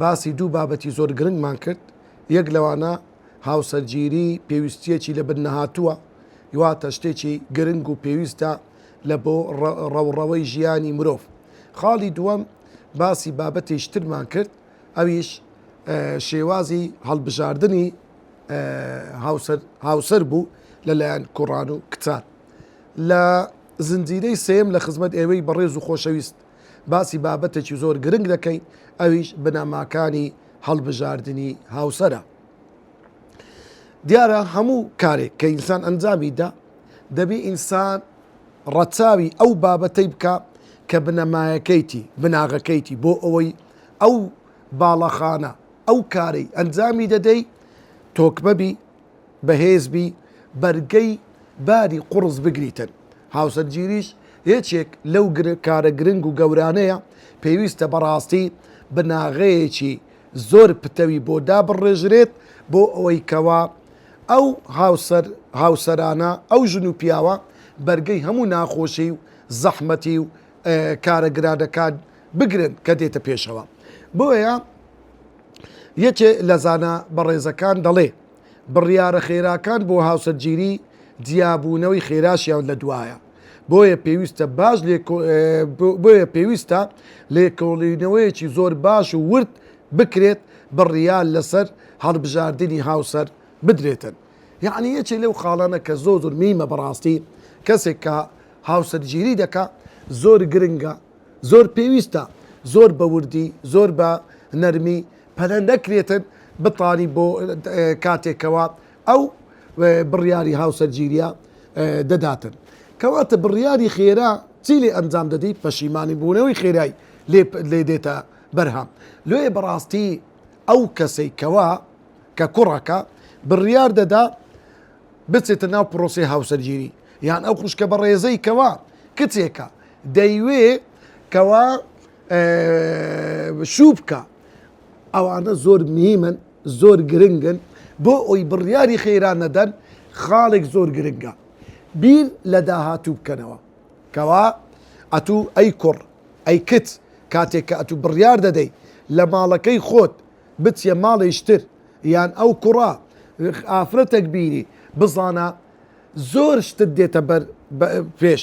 باسی دوو بابەتی زۆر گرنگمان کرد، یەک لەوانە هاوسەرگیری پێویستییەکی لەبن نەهاتووە، واتە شتێکی گرنگ و پێویستە لە بۆ ڕەوڕەوەی ژیانی مرۆڤ. خاڵی دووەم باسی بابەتێکی ترمان کرد، ئەویش شێوازی هەڵبژاردنی هاوسەر بوو لەلایەن کوڕان و کچان. لە زنجیرەی سێیەم لە خزمەت ئێوەی بەڕێز و خۆشەویست. باسی بابەتێکی زۆر گرنگ دەکەین ئەویش بنەماکانی هەڵبژاردنی هاوسەرە دیارە هەموو کارێک کە ئینسان ئەنجامی دا دەبی ئینسان ڕەچاوی ئەو بابەتەی بکە کە بنەمایەکەیتی بناغەکەیتی بۆ ئەوەی ئەو باڵەخانە ئەو کارەی ئەنجامی دەدەی تۆکبەبی بەهێز بی بەرگەی باری قوڕس بگریتن، هاوسەرگیریش یەکێک لەو کارە گرنگ و گەورانەیە، پێویستە بەڕاستی بناغەیەکی زۆر پتەوی بۆ دابڕێژرێت بۆ ئەوەی کەوا ئەو هاوسەر هاوسەرانە ئەو ژن و پیاوە بەرگەی هەموو ناخۆشی و زەحمەتی و کارە گرانەکان بگرن کە دێتە پێشەوە بۆیە یەکێ لە زانا بەڕێزەکان دەڵێ، بڕیارە خێراکان بۆ هاوسەرگیری جیابوونەوەی خێراشیان لە دوایە، بۆیە پێویستە باش بۆیە پێویستە لێکۆڵینەوەیەکی زۆر باش و ورد بکرێت بڕیار لەسەر هەڵبژاردنی هاوسەر بدرێتن. یەعنی یەکێ لەو خاڵانە کە زۆر زۆر میمە بەڕاستی کەسێک کە هاوسەرگیری دەکا زۆر گرنگە زۆر پێویستە زۆر بە وردی زۆر بە نەرمی پەرە نەکرێتن بتانی بۆ کاتێک کەوا ئەو بڕیاری هاوسەرگیریە دەداتن کەواتە بڕیاری خێرا چی لێ ئەنجام دەدی پەشیمانی بوونەوەی خێرای لێ دێتە بەرهام لێ بەڕاستی ئەو کەسەی کەوا کە کوڕەکە بڕیار دەدا بچێتە ناو پرۆسی هاوسەرگیری یان ئەو خوشکە بە ڕێزەی کەوا کچێکە دەیوێ کەوا شوو بکە ئەوانە زۆر میمن زۆر گرنگن بۆ ئەوی بڕیاری خێران نەدەن خاڵێک زۆر گرنگە بیر لە داهاتوو بکەنەوە کەوا ئەتوو ئەی کوڕ ئەی کچ کاتێک کە ئەتوو بڕیار دەدەی لە ماڵەکەی خۆت بچیە ماڵێشتر یان ئەو کوڕە ئافرەتەک بینی بزانە زۆر شتت دێتە بەر پێش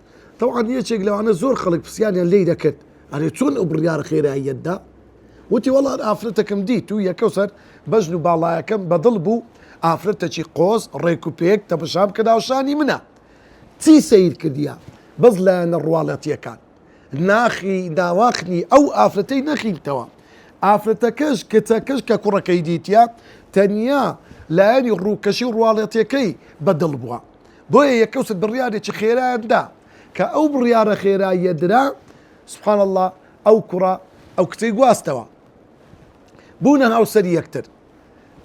تەوعان یەکێک لەوانە زۆر خەڵک پسیانیان لی دەکرد ئەرێ چۆن ئەو بڕیارە خێراییەت دا وتی وەڵان ئافرەتەکەم دیت و یەکە سەر بەژن و باڵایەکەم بەدڵ بوو ئافرەتەکی قۆز ڕێک و پێک تەمەشام کە ناوشانی منە چی سیر کردە بەس لایەنە ڕواڵەتیەکان ناخی داواخنی ئەو ئافرەتەی نەخیلتەوە ئافرەتەکەش کچەکەش کە کوڕەکەی دیتە تەنیا لایەنی ڕووکەشی ڕواڵەتەکەی بەدڵ بووە بۆیە یەکەوست بڕیارێکی خێرایان دا کە ئەو بڕیارە خێراییە درا سبحان اللە ئەو کوڕە ئەو کچەی گواستەوە بوونە هاوسەری یەکتر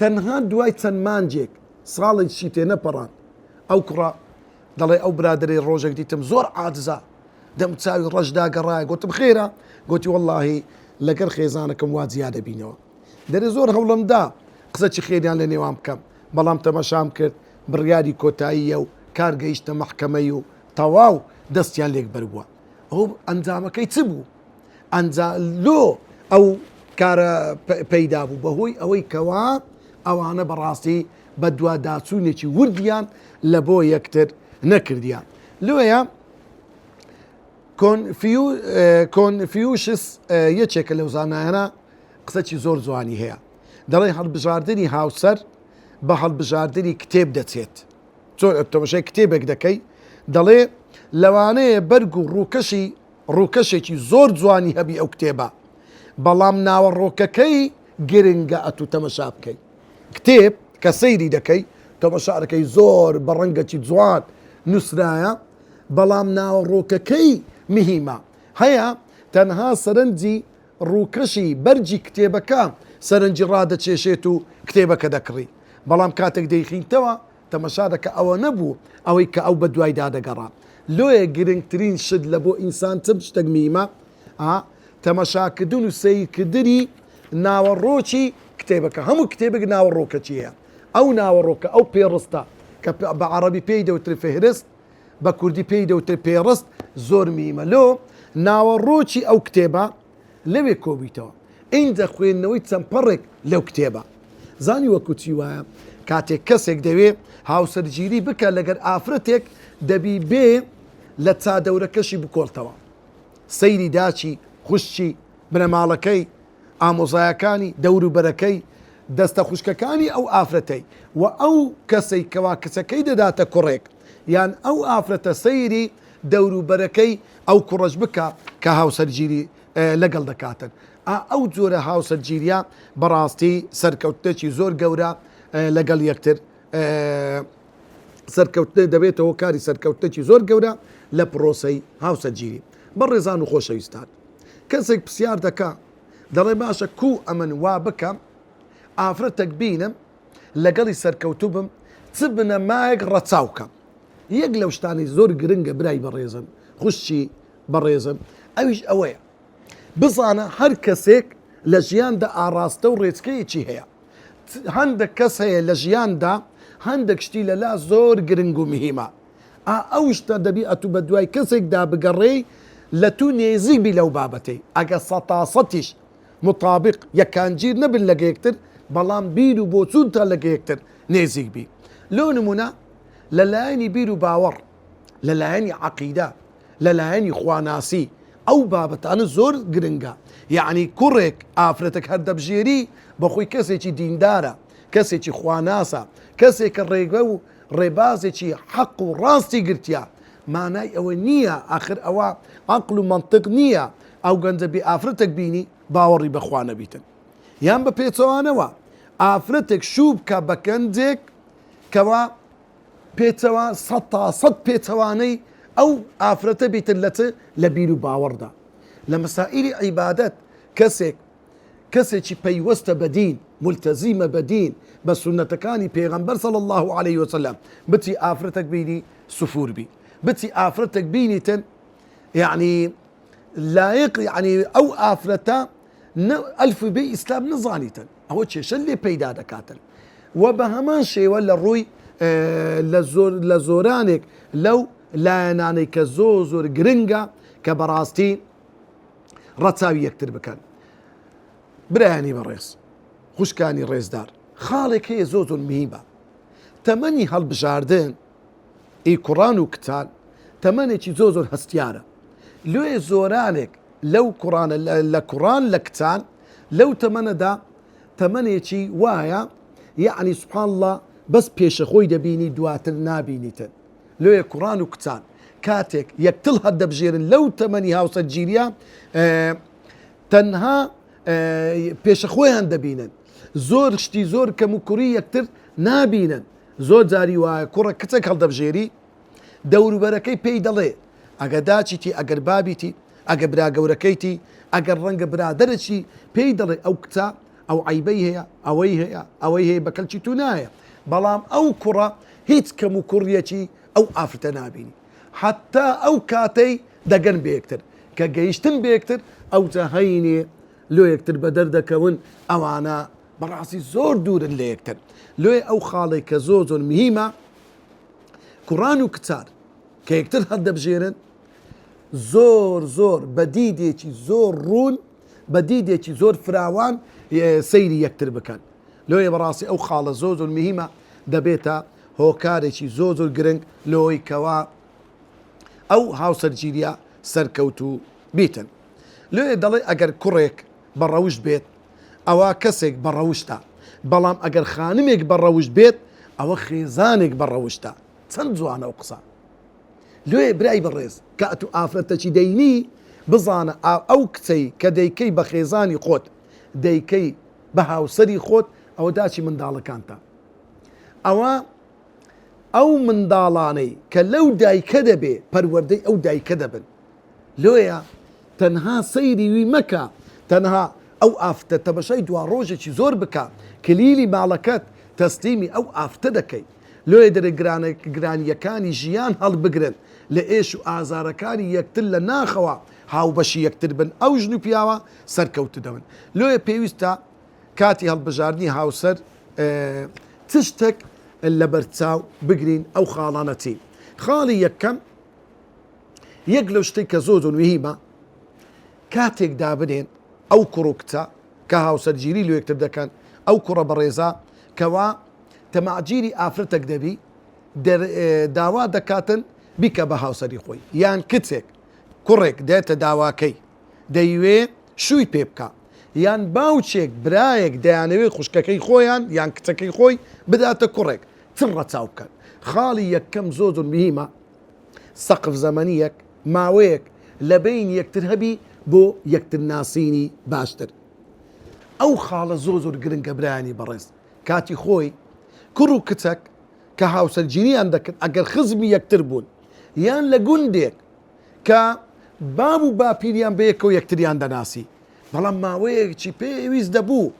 تەنها دوای چەند مانجێک ساڵێک چی تێ نەپەڕان ئەو کوڕە دەڵێ ئەو برادری ڕۆژێک دیتم زۆر عادزە دەم چاوی ڕەشدا گەڕایە گوتم خێرا گوتی واللهی لەگەر خێزانەکەم وا جیا دەبینەوە دەرێ زۆر هەوڵمدا قسەی خێریان لە نێوان بکەم بەڵام تەمەشام کرد بڕیاری کۆتاییە و کار گەیشتە مەحکەمەی و تەواو دەستیان لێک بەربووە ئەو ئەنجامەکەی چ بوو ئەنجا لۆ ئەو کارە پەیدا بوو بەهۆی ئەوەی کەوا ئەوانە بەڕاستی بە دوواداچوونێکی وردیان لە بۆ یەکتر نەکردیان لۆیە کۆنفیوشس یەکێکە لەو زانایانە قسەی زۆر جوانی هەیە دەڵێن هەڵبژاردنی هاوسەر بە هەڵبژاردنی کتێب دەچێت چۆن ئەتۆمەشای کتێبێک دەکەی دەڵێ لەوانەیە بەرگ و ڕووکەشی ڕووکەشێکی زۆر جوانی هەبی ئەو کتێبە بەڵام ناوەڕۆکەکەی گرنگە ئەتو تەمەشا بکەی کتێب کە سەیری دەکەی تەمەشارەکەی زۆر بە ڕەنگەکی جوان نووسرایە بەڵام ناوەڕۆکەکەی مهمە هەیە تەنها سەرنجی ڕووکەشی بەرگی کتێبەکە سەرنجی ڕادەکێشێت و کتێبەکە دەکڕی، بەڵام کاتێک دەیخیتەوە تەمەشا دەکا ئەوە نەبوو ئەوەی کە ئەو بەدوایدا دەگەڕا. لۆیە گرنگترین شت لە بۆ ئینسان چ شتێک میمە؟ ئا تەمەشاکردن و سەیرکردنی ناوەڕۆکی کتێبەکە. هەموو کتێبێک ناوەڕۆکەکی هەیە، ئەو ناوەڕۆکە، ئەو پێڕستە کە بە عەڕەبی پێی دەوترێ فهرست، بە کوردی پێی دەوترێت پێڕست زۆر میمە لۆ ناوەڕۆکی ئەو کتێبە لەوێ کۆبویتەوە ئینجا خوێندنەوەی چەند پەڕێک لەو کتێبە زانی وەکو چی وایە کاتێک کەسێک دەوێ هاوسەرگیری بکە لەگەر ئافرەتێک دەبی بێ لە چادەورەکەشی بکۆڵتەوە سەیری داچی خوشتی بنەماڵەکەی ئامۆزایەکانی دەوروبەرەکەی دەستە خوشکەکانی ئەو ئافرەتەی و ئەو کەسەی کەوا کچەکەی دەداتە کوڕێک یان ئەو ئافرەتە سەیری دەوروبەرەکەی ئەو کوڕەش بکە کە هاوسەرگیری لەگەڵ دەکاتن ئا ئەو جۆرە هاوسەرگیریە بەڕاستی سەرکەوتنێکی زۆر گەورە لەگەڵ یەکتر سەرکەوتنێ دەبێتەوە کاری سەرکەوتنێکی زۆر گەورە لە پرۆسەی هاوسەرگیری بەڕێزان و خۆشەویستان کەسێک پسیار دەکا دەڵێ باشە کو ئەمن وا بکەم ئافرەتەک بینم لەگەڵی سەرکەوتوو بم چ بنەمایەک ڕەچاو کەم یەک لەو شتانەی زۆر گرنگە برای بەڕێزم خوشی بەڕێزم ئەویش ئەوەیە بزانە هەر کەسێک لە ژیاندا ئاڕاستە و ڕێچکەیەکی هەیە هەندێک کەس هەیە لە ژیاندا هەندێک شتی لەلا زۆر گرنگ و مهمە ئا ئەو شتە دەبی ئەتوو بە دوای کەسێک دا بگەڕێی لە توو نێزیک بی لەو بابەتەی ئەگە سەتاسەتیش موتابیق یەکانگیر نەبن لەگە یەکتر بەڵام بیر و بۆچوونتان لەگە یەکتر نێزیک بی لۆ نموونە لە لایەنی بیر و باوەڕ لە لایەنی عەقیدە لە لایەنی خواناسی ئەو بابەتانە زۆر گرنگە یەعنی کوڕێک ئافرەتەک هەر دەبژێری بە خۆی کەسێکی دیندارە کەسێکی خواناسە کەسێکە ڕێگە و ڕێبازێکی حەق و ڕاستی گرتیە مانای ئەوە نیە ئاخر ئەوە عەقل و مەنتق نیە ئەو گەنجە بێ ئافرەتەک بینی باوەڕی بە خوا نەبیتن یان بە پێچەوانەوە ئافرەتێک شوو بکە بە گەنجێک کەوا پێچەوە سەد تا سەد پێچەوانەی ئەو ئافرەتە بیتن لە چ لە بیر و باوەڕدا لە مەسائیلی عیبادەت کەسێک کەسێکی پەیوەستە بە دین مولتەزیمە بە دین بە سونەتەکانی پێغەمبەر صلی اللە علیە وسلم بچی ئافرەتەک بینی سفور بی بچی ئافرەتەک بینیتن یعنی لایق یعنی ئەو ئافرەتە ئەلف بی ئیسلام نزانیتن ئەوە کێشە لێ پەیدا دەکاتن و بە هەمان شێوە لە ڕووی لە زۆر لە زۆرانێک لەو لایەنانەی کە زۆر زۆر گرنگە کە بەڕاستی ڕەچاوی یەکتر بکەن برایانی بەڕێز خوشکانی ڕێزدار خاڵێک هەیە زۆ زۆر مهمە تەمەنی هەڵبژاردن ئی کوڕان و کچان تەمەنێکی زۆ زۆر هەستیارە لێ زۆرانێک لەو کوڕانە لە کوڕان لە کچان لەو تەمەنەدا تەمەنێکی وایە یعنی سبحان الله بەس پێشەخۆی دەبینی دواتر نابینیتن لۆیە کوڕان و کچان کاتێک یەکتڵ هەردەبژێرن لەو تەمەنی هاوسەرگیریە تەنها پێشە خۆیان دەبینن زۆر شتی زۆر کەم و کوڕی یەکتر نابینن زۆر جاری وایە کوڕە کچێک هەڵدەبژێری دەوروبەرەکەی پێی دەڵێ ئەگە داچیتی ئەگەر بابیتی ئەگە برا گەورەکەیتی ئەگەر ڕەنگە برادەرەی پێی دەڵێ ئەو کچە ئەو عەیبەی هەیە، ئەوەی هەیە، ئەوەی هەیە بە کەلکی تو نایە، بەڵام ئەو کوڕە هیچ کەموکوڕیەکی ئەو ئافرەتە نابینی حەتا ئەو کاتەی دەگەن بە یەکتر، کە گەیشتن بە یەکتر ئەوجا هەینێ لۆ یەکتر بەدەر دەکەون، ئەوانە بەڕاستی زۆر دوورن لە یەکتر، لۆیە ئەو خاڵەی کە زۆر زۆر مهیمە کوڕان و کچان کە یەکتر هەڵدەبژێرن زۆر زۆر بە دیدێکی زۆر ڕوون بە دیدێکی زۆر فراوان سەیری یەکتر بکەن لۆیە بەڕاستی ئەو خاڵە زۆر زۆر مهمە دەبێتە هۆکارێکی زۆر زۆر گرنگ لۆی کەوا ئەو هاوسەرگیریە سەرکەوت و بیتن لۆیە دەڵێ ئەگەر کوڕێک بە ڕەوشت بێت ئەوە کەسێک بە ڕەوشتە بەڵام ئەگەر خانمێک بە ڕەوشت بێت ئەوە خێزانێک بە ڕەوشتە چەند جوانە و قسە لۆیێ برای بەڕێز کە ئەتوو ئافرەتەکی دەینی بزانە ئا ئەو کچەی کە دەیکەی بە خێزانی خۆت دەیکەی بە هاوسەری خۆت ئەوە داکی منداڵەکانتە ئەوە ئەو منداڵانەی کە لەو دایکە دەبێ پەروەردەی ئەو دایکە دەبن لۆیە تەنها سەیری وی مەکە تەنها ئەو ئافتە تەمەشای دوا ڕۆژێکی زۆر بکە کلیلی ماڵەکەت تەسلیمی ئەو ئافتە دەکەی لۆیە دەبێت گرانییەکانی ژیان هەڵبگرن، لە ئێش و ئازارەکانی یەکتر لە ناخەوە هاوبەشی یەکتر بن، ئەو ژن و پیاوە سەرکەوتوو دەبن. لۆیە پێویستە کاتی هەڵبژاردنی هاوسەر چ شتێک لەبەرچاو بگرین، ئەو خاڵانە چین؟ خاڵی یەکەم، یەک لەو شتەی کە زۆر زۆر مهیمە، کاتێک دابنێن ئەو کوڕ و کچە کە هاوسەرگیری لە یەکتر دەکەن، ئەو کوڕە بەڕێزە کەوا، تەماعگیری ئافرەتەک دەبی دەر داوا دەکاتن بیکە بە هاوسەری خۆی یان کچێک کوڕێک دێتە داواکەی دەیوێ شووی پێ بکە یان باوچێک برایەک دەیانەوێ خوشکەکەی خۆیان یان کچەکەی خۆی بداتە کوڕێک چ ڕەچاو بکەن خاڵی یەکەم زۆر زۆر مهمە سەقف زەمەنیەک ماوەیەک لە بین یەکتر هەبی بۆ یەکتر ناسینی باشتر ئەو خاڵە زۆر زۆر گرنگە برایانی بەڕێز کاتی خۆی کوڕ و کچەک کە هاوسەرگیریان دەکرد ئەگەر خزمی یەکتر بوون یان لە گوندێک کە باب و باپیریان بەیەکەوە یەکتریان دەناسی بەڵام ماوەیەکی پێویست دەبوو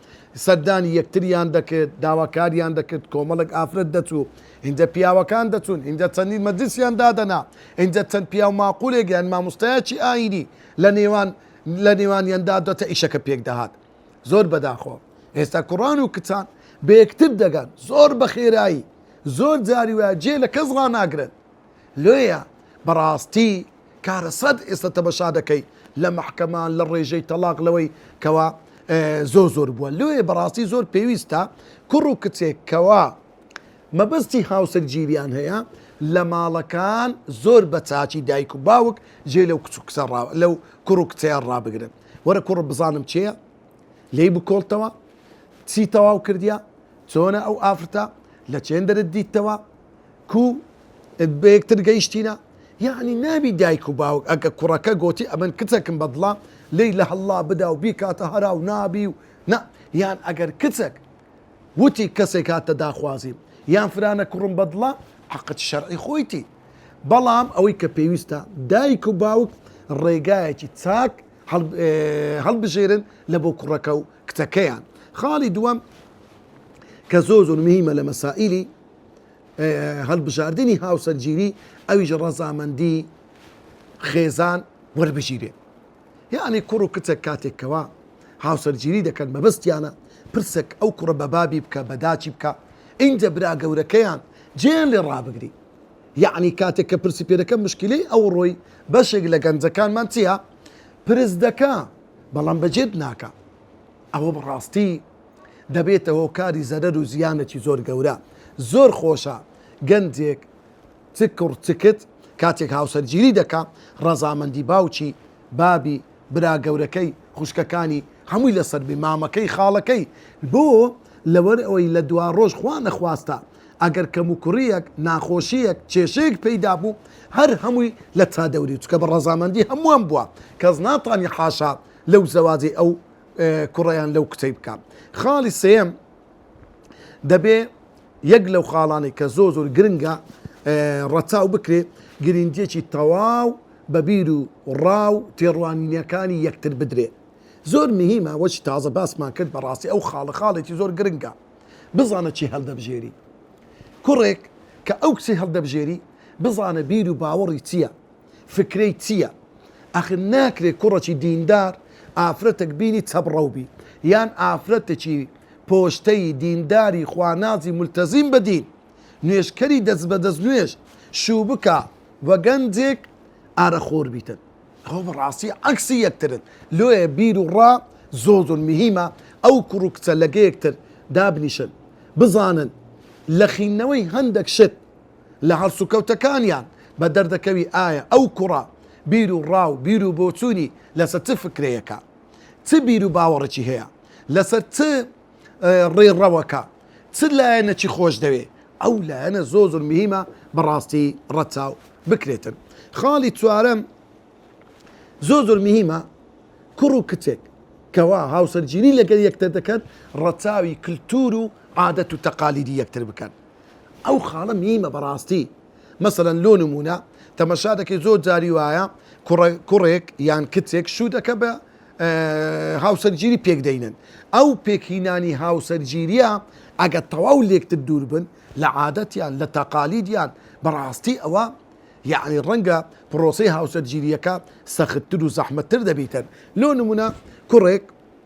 سەردانی یەکتریان دەکرد داواکاریان دەکرد کۆمەڵک ئافرەت دەچوو اینجا پیاوەکان دەچوون اینجا چەندین مەجلسیان دادەنا اینجا چەند پیاو ماقولێک یان مامۆستایەکی ئاینی لە نێوان لە نێوانیاندا دەتە ئیشەکە پێک دەهات زۆر بەداخەوە ئێستا کوڕان و کچان بە یەکتر دەگەن زۆر بە خێرایی زۆر جاری وایە جێ لە کەس ڕناگرن لێیە بەڕاستی کارە سەد ئێستا تەمەشا دەکەی لە محکەمان لە ڕێژەی تەلاق لەوەی کەوا زۆر زۆر بووە لێ بەڕاستی زۆر پێویستە کوڕ و کچێک کەوا مەبەستی هاوسەر گیریان هەیە لە ماڵەکان زۆر بە چاچی دایک و باوک جێ لەو کچ و کچە لەو کوڕ و کچیان ڕابگرن وەرە کوڕ بزانم چێە لێی بکۆڵتەوە چی تەواو کردیا چۆنە ئەو ئافرتە لە چێندرت دیتەوە کو بەیەکتر گەیشتینە یعنی نابی دایک و باوک ئەگە کوڕەکە گۆتی ئەمن کچەکم بەدڵە لی لە هەڵا بدا و بیکاتە هەرا و نابی و نا یان ئەگەر کچەک وتی کەسێک هاتە داخوازیم یان فرانە کوڕم بەدڵە حقت شەرعی خۆیتی بەڵام ئەوەی کە پێویستە دایک و باوک ڕێگایەکی چاک هەڵبژێرن لە بۆ کوڕەکە و کچەکەیان خاڵی دووەم کە زۆر زۆر مهمە لە مەسائلی هەڵبژاردننی هاوسەرگیری ئەویش ڕەزامەندی خێزان وەربژیرێ یەعنی کوڕ و کچەک کاتێک کەوا هاوسەرگیری دەکەن مەبەستیانە پرسەک ئەو کوڕە بە بابی بکە بە داچی بکە ئینجا برا گەورەکەیان جێیان لێ ڕابگری یەعنی کاتێک کە پرسی پێ دەکەم مشکلەی ئەو ڕۆی بەشێک لە گەنجەکانمان چیە پرس دەکا بەڵام بە جێت ناکا ئەوە بەڕاستی دەبێتە هۆکاری زەرەر و زیانەکی زۆر گەورە زۆر خۆشە گەنجێک چ کوڕ چ کچ کاتێک هاوسەرگیری دەکا ڕەزامەندی باوکی، بابی، برا گەورەکەی، خوشکەکانی هەمووی لەسەر بێ، مامەکەی، خاڵەکەی، بۆ؟ لەوەر ئەوەی لە دواڕۆژ خوا نەخواستە ئەگەر کەموکوڕیەک، ناخۆشیەک، کێشەیەک پەیدا بوو هەر هەمووی لە چادەوری چکە بە ڕەزامەندی هەمووان بووە کەس ناتانی حاشا لەو زەواجەی ئەو کوڕە یان لەو کچەی بکا خاڵی سێیەم، دەبێ یەک لەو خاڵانەی کە زۆر زۆر گرنگە ڕەچاو بکرێ گرنگیەکی تەواو بە بیر و ڕا و تێڕوانینەکانی یەکتر بدرێ زۆر مهمە وەچ تازە باسمان کرد بەڕاستی ئەو خاڵە خاڵێکی زۆر گرنگە بزانە چی هەڵدەبژێری کوڕێک کە ئەو کچی هەڵدەبژێری بزانە بیر و باوەڕی چییە فکرەی چیە ئەخر ناکرێ کوڕەکی دیندار ئافرەتەک بینی چەبڕەو بی یان ئافرەتەکی پۆشتەیی دینداری خوانازی مولتەزیم بە دین نوێژکەری دەست بە دەست نوێژ شوو بکا وە گەنجێک ئارە خۆر بیتن ئەوە بە ڕاستی عەکسی یەکترن لۆیە بیر و ڕا زۆر زۆر مهیمە ئەو کوڕ و کچە لەگە یەکتر دابنیشن بزانن لە خینەوەی هەندەک شت لە هەڵسوکەوتەکانیان بە دەردەکەوی ئایا ئەو کوڕە بیر و ڕا و بیر و بۆچوونی لەسەر چ فکرەیەکە، چ بیر و باوەڕێکی هەیە، لەسەر چ ڕێڕەوەکە، چ لایەنەکی خۆش دەوێ، ئەو لایەنە زۆر زۆر مهیمە بە ڕاستی ڕەچاو بکرێتن. خاڵی چوارەم زۆر زۆر مهیمە، کوڕ و کچێک کەوا هاوسەرگیری لەگەر یەکتر دەکەن ڕەچاوی کلتور و عادەت و تەقالیدی یەکتر بکەن، ئەو خاڵە میمە بەڕاستی مەسەلەن لۆ نمونە تەمەشا دەکەی زۆر جاری وایە کوڕێک یان کچێک شوو دەکە بە هاوسەرگیری پێک دەینن ئەو پێکینانی هاوسەرگیریە ئەگە تەواو لێکتر دوور بن لە عادەتیان لە تەقالیدیان بەڕاستی ئەوە یعنی ڕەنگە پرۆسی هاوسەرگیریەکە سەختتر و زەحمەتتر دەبیتن لۆ نمونە کوڕێک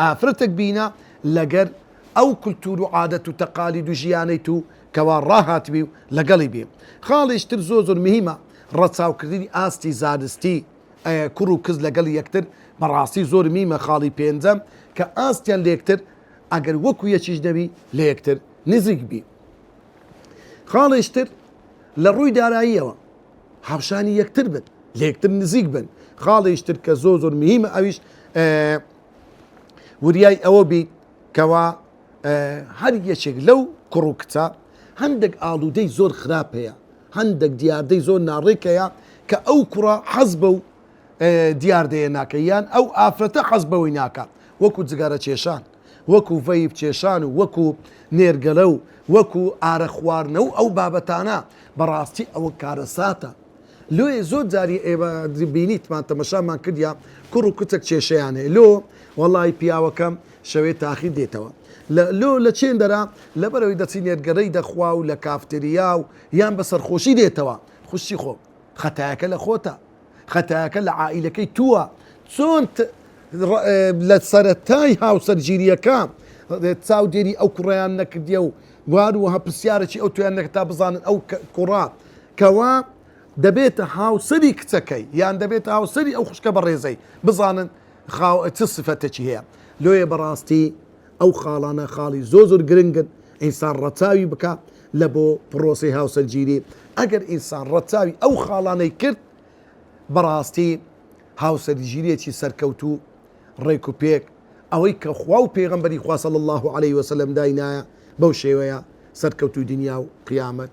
ئافرەتەک بینە لەگەر ئەو کلتور و عادەت و تەقالید و ژیانەی تو کەوا ڕاهاتبی و لەگەڵی بی. خاڵیش تر زۆر زۆر مهیمە ڕەچاو کردنی ئاستی زانستی کوڕ و کز لەگەڵ یەکتر بەڕاستی زۆر مهیمە خاڵی پێنجەم کە ئاستیان لەیەکتر ئەگەر وەکو یەکیش نەبی لەیەکتر نزیک بی. خاڵیش تر لە ڕوی داراییەوە هاوشانی یەکتر بن لەیەکتر نزیک بن خاڵیش تر کە زۆر زۆر مهیمە ئەویش وریای ئەوە بیت کەوا هەر یەکێک لەو کوڕ و کچە هەندێک ئاڵوودەی زۆر خراپ هەیە هەندێک دیاردەی زۆر ناڕێک هەیە کە ئەو کوڕە حەز بە و دیاردەیە ناکە یان ئەو ئافرەتە حەز بەوەی ناکە وەکو جگەرە کێشان وەکو ڤەیب کێشان و وەکو نێرگەلە و وەکو ئارە خواردنە و ئەو بابەتانە بەڕاستی ئەوە کارەساتە لۆیێ زۆر جاری ئێمە بینیتمان تەمەشامان کردیە کوڕ و کچەک کێشەیان هەیە لۆ وەڵای پیاوەکەم شەوێ تاخیر دێتەوە لە لۆ لە چێندەرا لەبەرەوەی دەچی نێرگەرەی دەخوا و لە کافتریا و یان بە سەرخۆشی دێتەوە خوشی خۆ خەتایەکە لە خۆتە خەتایەکە لە عائیلەکەی تووە چۆن لە سەرەتای هاوسەرگیریەکە چاودێری ئەو کوڕیان نەکردیە و وار وهە پرسیارەکی ئەو تویان نەکە تا بزانن ئەو کوڕات کەوا دەبێتە هاوسەری کچەکەی یان دەبێتە هاوسەری ئەو خوشکە بەڕێزەی بزانن خاو چ سفەتەکی هەیە لۆیە بەڕاستی ئەو خاڵانە خاڵی زۆ زۆر گرنگن ئینسان ڕەچاوی بکە لە بۆ پرۆسی هاوسەرگیری ئەگەر ئینسان ڕەچاوی ئەو خاڵانەی کرد بەڕاستی هاوسەرگیریەکی سەرکەوتوو ڕێک و پێک ئەوەی کە خوا و پێغەمبەری خوا صلی الله علیه وسلم داینایە بەو شێوەیە سەرکەوتوو دنیا و قیامەت